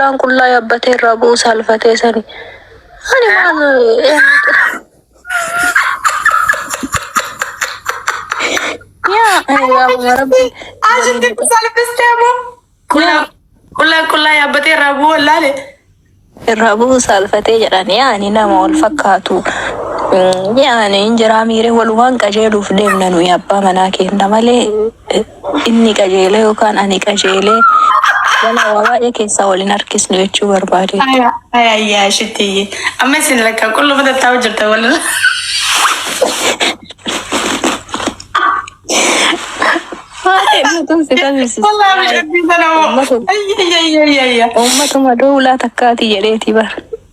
Mucaan qullaa yaabbatee irraa bu'uu saalfatee sani. Ani maal yaa yaa rabbi. Asitti salphistee moo? Qullaa qullaa qullaa yaabbatee irraa bu'uu laale. irraa bu'uu saalfatee jedhan yaani nama wal fakkaatu yaani injiraa miiree walumaan qajeeluuf deemna nuyi abbaa manaa keenya malee inni qajeelee yookaan ani qajeelee wala waa baay'ee keessaa waliin harkisnu jechuu barbaade. Haya, haya, yaa shitiyye. Amma isin lakka qulluma tattaa'u jirta walirra. Ummatuun si taasisi. Walaa bishaan sana moo. Ummatu- Ayyayyayyayyayya. Ummatuma duulaa takkaati jedheeti bara.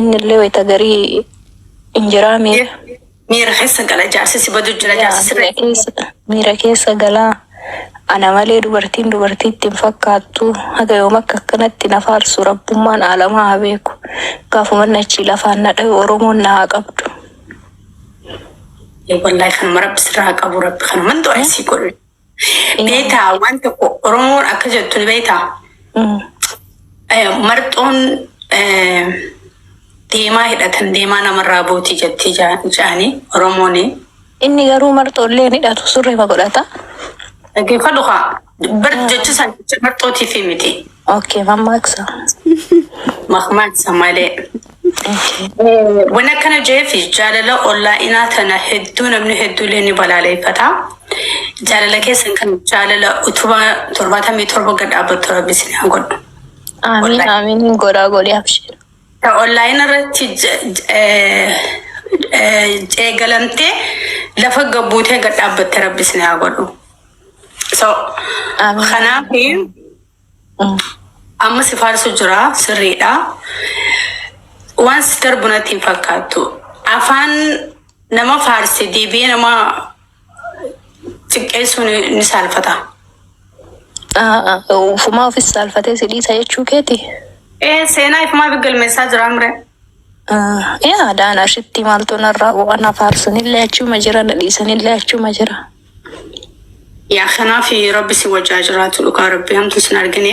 Innillee wayta garii hin jiraa miira. Miira keessa gala jaarsi si badu jira jaarsi si Miira keessa miira keessa galaa. Ana malee dubartiin dubartii itti hin fakkaattu. Haga yoom akka akkanatti na faarsu rabbummaan aalamaa haa beeku. Gaafuman achii lafaan na dhayu oromoon na haa qabdu. Wallaahi kanuma rabbi sirraa haa qabu rabbi kanuman du'aa isii godhu. Beektaa waan tokko Oromoon akka jettu ni beektaa? Eh, Marxoon eh, deemaa hidhatan deemaa namarraa bootii jetti jaanii Oromoon. Inni garuu marxoollee hin hidhatu surreema godhata. Dhaggeeffadhu kaa. Bar jechi san jecha marxootiif miti. Okay, mammaaksa. Mammaaksa malee. Wanni akkana jeef jaalala onlaayinaa tana hedduu namni hedduu illee ni balaaleeffata. Jaalala keessan kan jaalala utubaa torbaatamii torba gad dhaabbattu rabbi isin haa godhu. Aamiin aamiin hin godhaa godhi abshiir. Ta onlaayina irratti j- j- eh, eh, eegalamtee lafa gabbuutee gad dhaabbatte rabbi isin haa godhu. So, Amiin. kanaaf Amma si faarsu jira sirriidha. Waan si darbu natti hin fakkaattu. Afaan nama faarse deebi'ee nama xiqqeessuu ni ni saalfata. Ufumaa ofis saalfatee si dhiisa jechuu keeti. Ee seenaa ifumaa biggalmeessaa jira mire. Yaa daana ashitti maaltu narraa bu'ana faarsunillee achuma jira na dhiisanillee achuma jira. yaa kanaaf rabbi si wajjaa jiraatu dhugaa rabbi hamtu sin argine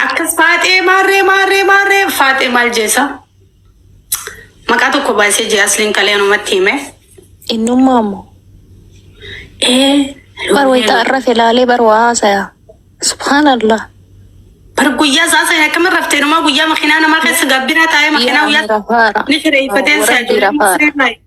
akkas faaxee maarree maarree maarree faaxee maal jeesa maqaa tokko baasee jee asliin kalee anumatti hime Innummaa immoo bar wayita arra filaalee bar waa haasaya. Subhaanallah. bar guyyaa isaa sana akkamin raftee namaa guyyaa makiinaa namaa keessa gabbinaa taa'ee makiinaa guyyaa Rafaara. ni fireeffatee Warra isaa ijoollee rafaara. siree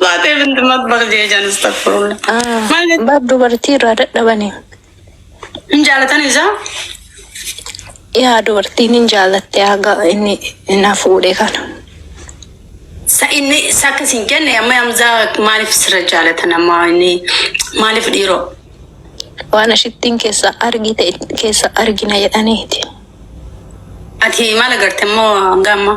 Baatee binti matbaka jee jaan astagfirullah. Maal jette? Baab dubartii irraa dadhabani. Hin jaalatan isaa? Yaa dubartiin hin jaallatte haga inni na fuudhe kana. Sa inni sa akkas hin jenne amma Hamzaa maaliif sirra jaalatan amma inni maaliif dhiiroo? Waan ashittiin keessa argite keessa argina jedhaniiti. Ati maal agarte immoo hanga ammaa?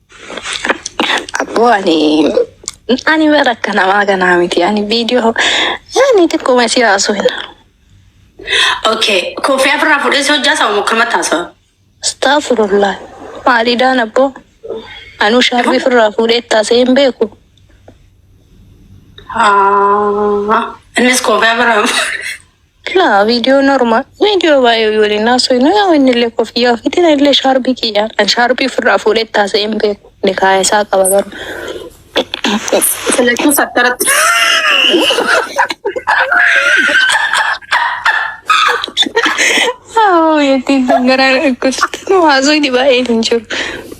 Abboo ani ani bara akka namaa ganaa miti ani viidiyoo ani xiqquma si haasoo hin Okay. Koofee afirraa fuudhee si hojjaa sababa akkuma taasifamu. astaafurullaa maaliidhaan abboo anuu shaarbii firraa fuudhee taasee hin beeku Innis koofee afirraa fuudhee. Laa viidiyoo normaal viidiyoo baay'ee waliin haasofnu yaa inni illee kofiyyaa ofiitiin ani illee shaarbii kiyya an shaarbii ofirraa fuudhee itti haasa'ee hin beeku inni kaaya isaa qaba garuu. Filachuus akkaratti. Haa yettiin tangaraan akkasitti nu haasofni baay'een hin jiru.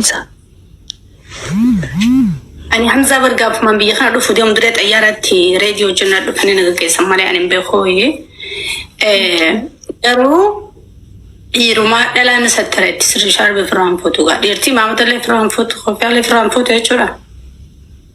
Isa. Ani Hamzaa bar gaafumaan biyya kana dhufu deemu diree xayyaaratti reediyoo hojjennaa dhufanii na gaggeessan malee ani hin beeku hoyyee. Garuu dhiirumaa dhalaan isa tareetti sirri shaarbi firaan fuutu gaa. Dhiirtii maamota illee firaan fuutu, koofiyaalee firaan fuutu jechuudha.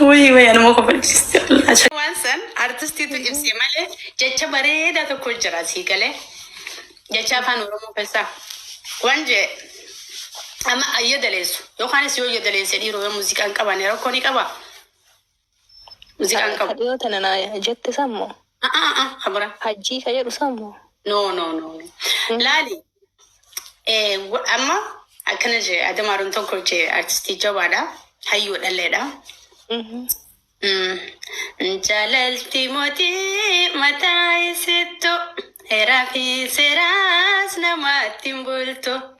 Wayii wayii anuma kofalchiiste Allah. Waan san artistiitu ibse malee jecha bareedaa tokko jira sii galee jecha afaan oromoo keessaa waan jee amma ayya daleessu yookaanis yoo ayya daleesse dhiiroo yoo muuziqaan qabaane rakkoo ni qaba muuziqaan qabu. Kadhiyoota nanaa jette sammoo. A a a abra. Hajjii ka jedhu san moo? No no no no. Laali eh, wa- amma akkana jee adamaaruun tokko jee artistii jabaadha hayyuu dhalleedha. Mhm. Mm. Jalalti moti mataa isittu heraa fi seeraas namaatti hin bultu.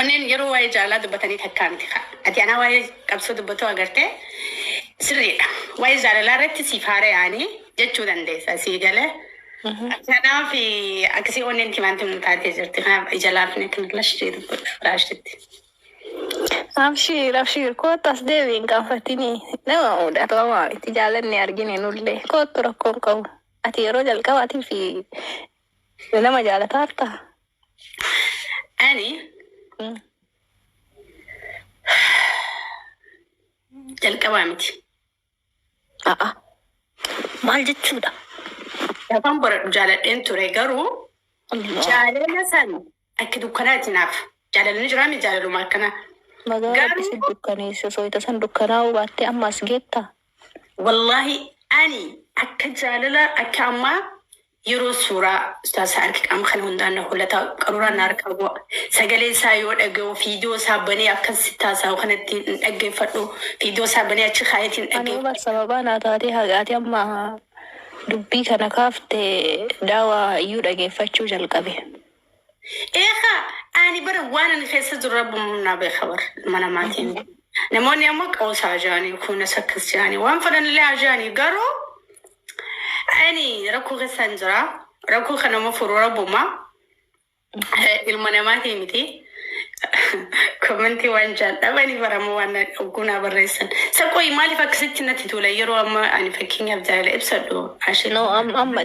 Onneen yeroo waa'ee jaalalaa dubbatanii takkaa miti ka ati anaa waa'ee qabsoo dubbatuu agartee sirriidha. Waa'ee jaalalaa irratti siif haara yaa'anii jechuu dandeessa sii galee. Kanaaf akkasii onneen timaantimni taatee jirti. Kanaaf ija laafina kan lashii dubbadhu raashitti. Abshiir abshiir koottu as deebi hin qaanfatini nama mudatu homaa miti jaalanne argine nulle koottu rakkoon qabu ati yeroo jalqabaatiif nama jaalataarta Ani Mm. jalqabaa miti. A'a. Maal jechuudha? Afaan baradhu jaaladheen ture garuu jaalala san akka dukkanaati naaf. Jaalalli jiraa mi jaalaluma akkana. Magaalaa Garuu- isin dukkaneesse osoo isa san dukkanaa'uu baattee amma as geetta. Wallaahi ani akka jaalala akka ammaa Yeroo suuraa ustaaz isaa arge qaama kana hundaan na hollata, qaruuraan na harkaa bu'a. Sagalee isaa yoo dhaga'u fiidiyoo isaa banee akkan sitti haasa'u kanatti hin dhaggeeffadhu. Fiidiyoo isaa banee achi kaa'eeti hin dhaggeeffadhu. Anuma sababaa naa taatee haga ati amma dubbii kana kaafte da'waa iyyuu dhageeffachuu jalqabe. Eekaa ani bara waan ani keessa jiru rabbummaan naa beeka bar ilma namaatiin. Namoonni ammoo qoosaa ajaa'anii kuunas akkas jedhanii waan fedhan illee ajaa'anii garuu ani rakkoo keessaan jira. Rakkoo kana immoo furuu rabbumaa ilma namaatii miti. Komentii waan jaan dhabanii baramoo waan oggunaa barreessan. Saqooyi maaliif akkasitti natti tuula yeroo amma ani fakkeenyaaf jaalala ibsadhu. Ashee No, am, amma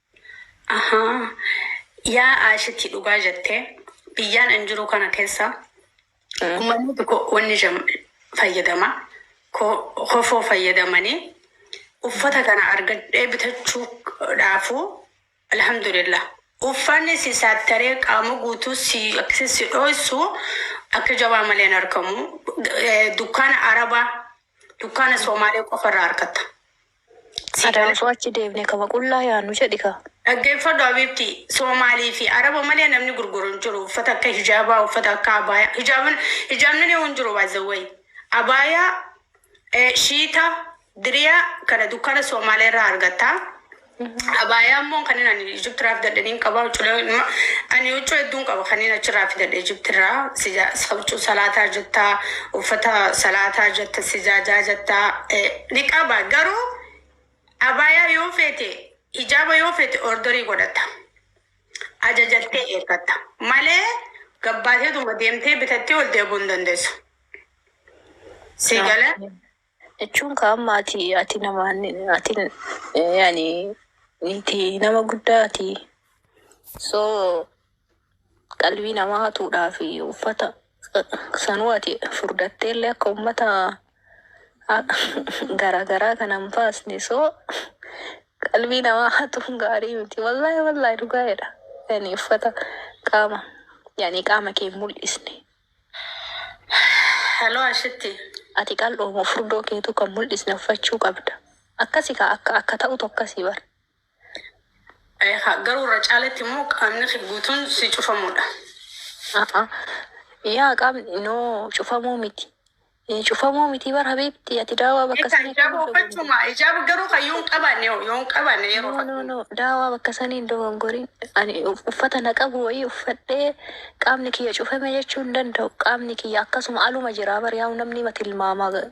Ahaa yaa Aashiti dhugaa jette biyyaan an jiruu kana keessa ummanni tokko wanni jam fayyadama ko- kofoo fayyadamanii uffata kana argadhee bitachuu dhaafuu alhamdulillah uffanni si saattaree qaama guutuu si akkasi si dhooysu akka jabaa malee hin argamu Eh, dukkaana arabaa dukkaana soomaalee qofa irraa argatta Sidaa osoo achi deebne kama qullaa yaanu jedhi kaa. Dhaggeeffadhu habiibti soomaalii fi araba malee namni gurguru hin jiru uffata akka hijaabaa uffata akka abaayaa hijaabin hijaabnin iyyuu hin jiru by the way abaayaa eh, shiita diriyaa kana dukkana soomaalee irraa argatta abaayaa immoo kanin ani Egypt irraa fidadhe niin qaba hucculee ilma ani huccuu hedduun qaba kanin achirraa fidadhe Egypt irraa sija huccuu salaataa jetta uffata salaataa jetta sijaajaa jetta eh, Ni qaba garuu abaayaa yoo feete hijaaba yoo feete orderii godhatta ajajattee eeggatta malee gabbaateetuma deemtee bitattee ol deebuu hin dandeessu si Yaa. gala jechuun ka amma ati ati nama ati yani niiti nama guddaa ati so qalbii namaa hatuudhaa fi uffata sanuu ati furdattee illee akka ummata garaagaraa kana hin baasne soo qalbii namaa hatuun gaarii miti wallaahi wallaahi dhugaa'edha yani uffata qaama yani qaama kee hin mul'isne Hello Ashitti. ati qal'oomoo furdoo keetuu kan mul'isne uffachuu qabda akkasi kaa akka akka ta'utu akkasii bara Eeha, garuu irra caalatti immoo qaamni kee guutuun si cufamuudha. A'a. Yaa qaamni no cufamuu miti. Eh, Cufamuu miti bar habiibti ati daawaa bakka Egaa sanii hijaaba akkamitti dogongorte? uffachuma hijaaba garuu kan yoo hin qabaanne hoo yoo hin qabaanne yeroo No no fakkii. no daawaa bakka sanii hin dogongorin. Ani uff- uffata na qabu wayii uffadhee qaamni kiyya cufame jechuu hin danda'u. Qaamni kiyya akkasuma aluma jira bar yaa namni ma tilmaamaa ga-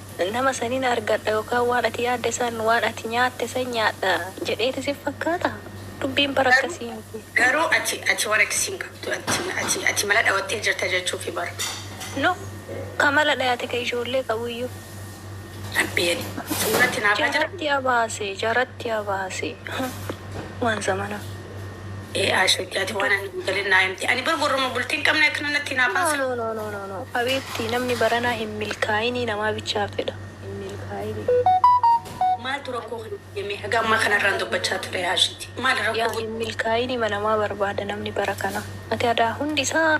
Nama sanin argadha yookaan waan ati yaadde san, waan ati nyaatte san nyaadha jedheeti si fakkaata? Dubbiin bar akkasii miti. Garuu ati ati waan akkasii hin qabdu. Ati ati ati mala dhawattee jirta jechuufi bar. No! Ka mala dhayate ka ijoollee qabuyyu. Abbeen. Xumuratti naaf haa jiraatu. Jaratti abaase jaratti abaase. Waan zamanaa. Aisha hojii ati waan ani hin galin naa himte ani bar warruma bultii hin qabne akkana natti hin No, haafaasin. no, no, no, no, no. Habiibti namni baranaa hin milkaa'inii namaa bichaa fedha. Hin milkaa'inii. Maaltu rakkoo kana fide mee haga ammaa kanarraan dubbachaa ture Aishiti. Maali Yaa rakkoo hin milkaa'inii ma namaa barbaada namni bara kana. Ati adaa hundi isaa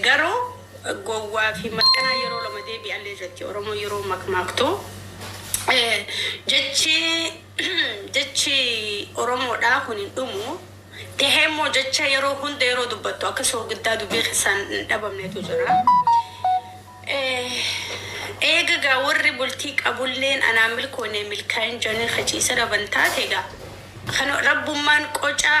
Garuu gowwaa fi maganaa yeroo lama deebi'allee jetti Oromoon yeroo makmaaktu. Jechi jechi Oromoodhaa kun hin dhumu. Tahee immoo jecha yeroo hunda yeroo dubbattu akka soogiddaa dubbii keessaa hin dhabamnetu jira. Eega gaa warri bultii qabulleen anaan milkoonee milkaa'in jedhanii ka ciise dhaban taate gaa kan rabbummaan qocaa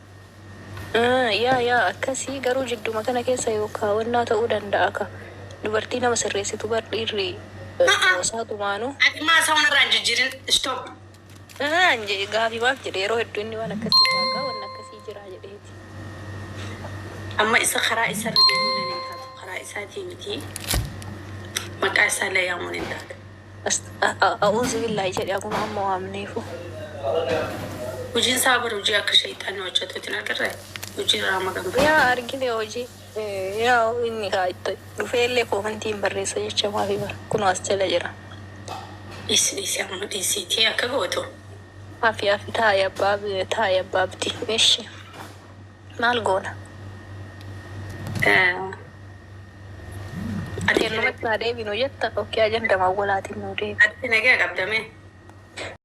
Yaa yaa akkasi garuu jidduma kana keessa yoo kaawannaa ta'uu danda'aka dubartii nama sirreessitu bar dhiirri qoosaa tumaanu. Ati maa saw narraa hin jijjiirin stop. Naan jedhe gaafi maaf jedhe yeroo heddu inni waan akkasii taakaa wanni akkasii jiraa jedheeti. Amma isa karaa isa irra deemulleen hin taatu karaa isaatii mitii maqaa isaallee yaamuun hin taatu. A'uuzubillahi jedhi haguma amma waamneefu. Hujiin isaa bar hujii akka shayxaanni hojjatuuti hin agarre hujii irraa hama gammachiisa. Yaa argine hojii yaa inni kaa itti dhufee illee koomantii hin barreessa jecha maafi bara kunoo as jala jira. Dhiisi dhiisi amma dhiisiitii akka gootu. Afi afi taa'i abbaa taa'i abbaabti eshi. Maal goona? Ati Yeroo irratti haa deebinu jetta okkee ajandama awwalaatiin nuu deebi. ati nagaa qabdamee.